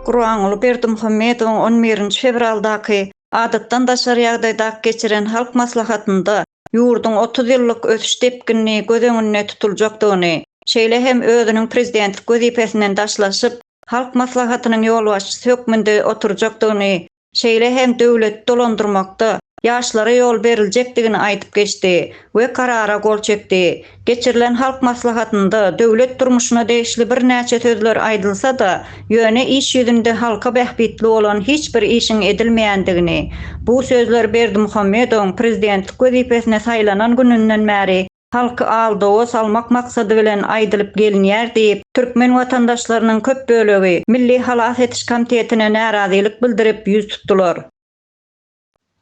Gurbanguly Berdimuhamedowyň on birinji fewraldaky Adatdan daşary ýagdaýdaky geçiren Halk Maslahatynda ýurduň otuz ýyllyk ösüş depginini göz öňünde tutuljakdygyny, şeýle hem özüniň prezidentlik wezipesinden daşlaşyp, Halk Maslahatynyň ýolbaşçysy hökmünde oturjakdygyny şeýle hem döwleti dolandyrmakda ýaşlara ýol beriljekdigini aýdyp geçdi we karara gol çekdi. Geçirilen Halk Maslahatynda döwlet durmuşyna degişli birnäçe sözler aýdylsa-da, ýöne iş ýüzünde halka bähbitli bolan hiç bir işiň edilmeýändigini, bu sözler Berdimuhamedowyň prezidentlik wezipesine saýlanan gününden bäri halky aldawa salmak maksady bilen aýdylyp gelinýär diýip, türkmen watandaşlarynyň köp bölegi Milli halas ediş komitetine närazylyk bildirip ýüz tutdular.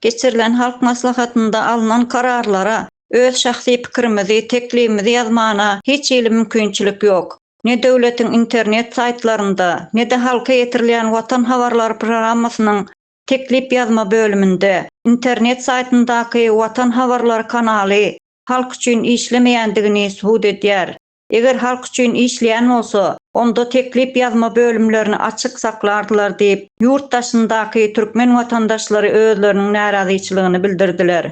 Geçirilen Halk Maslahatynda alnan kararlara öz şahsy pikirimizi, teklibimizi ýazmana hiç hili mümkinçilik ýok. Ne döwletiň internet saýtlarynda, ne-de halka ýetirilýän Watan habarlary programmasynyň teklip ýazma bölüminde, internet saýtyndaky Watan habarlary kanaly halk üçin işlemeýändigini subut edýär. Eger halk üçin işleýän bolsa, onda teklip ýazma bölümlerini açyk saklardylar diýip, ýurt daşyndaky türkmen watandaşlary özleriniň närazyçylygyny bildirdiler.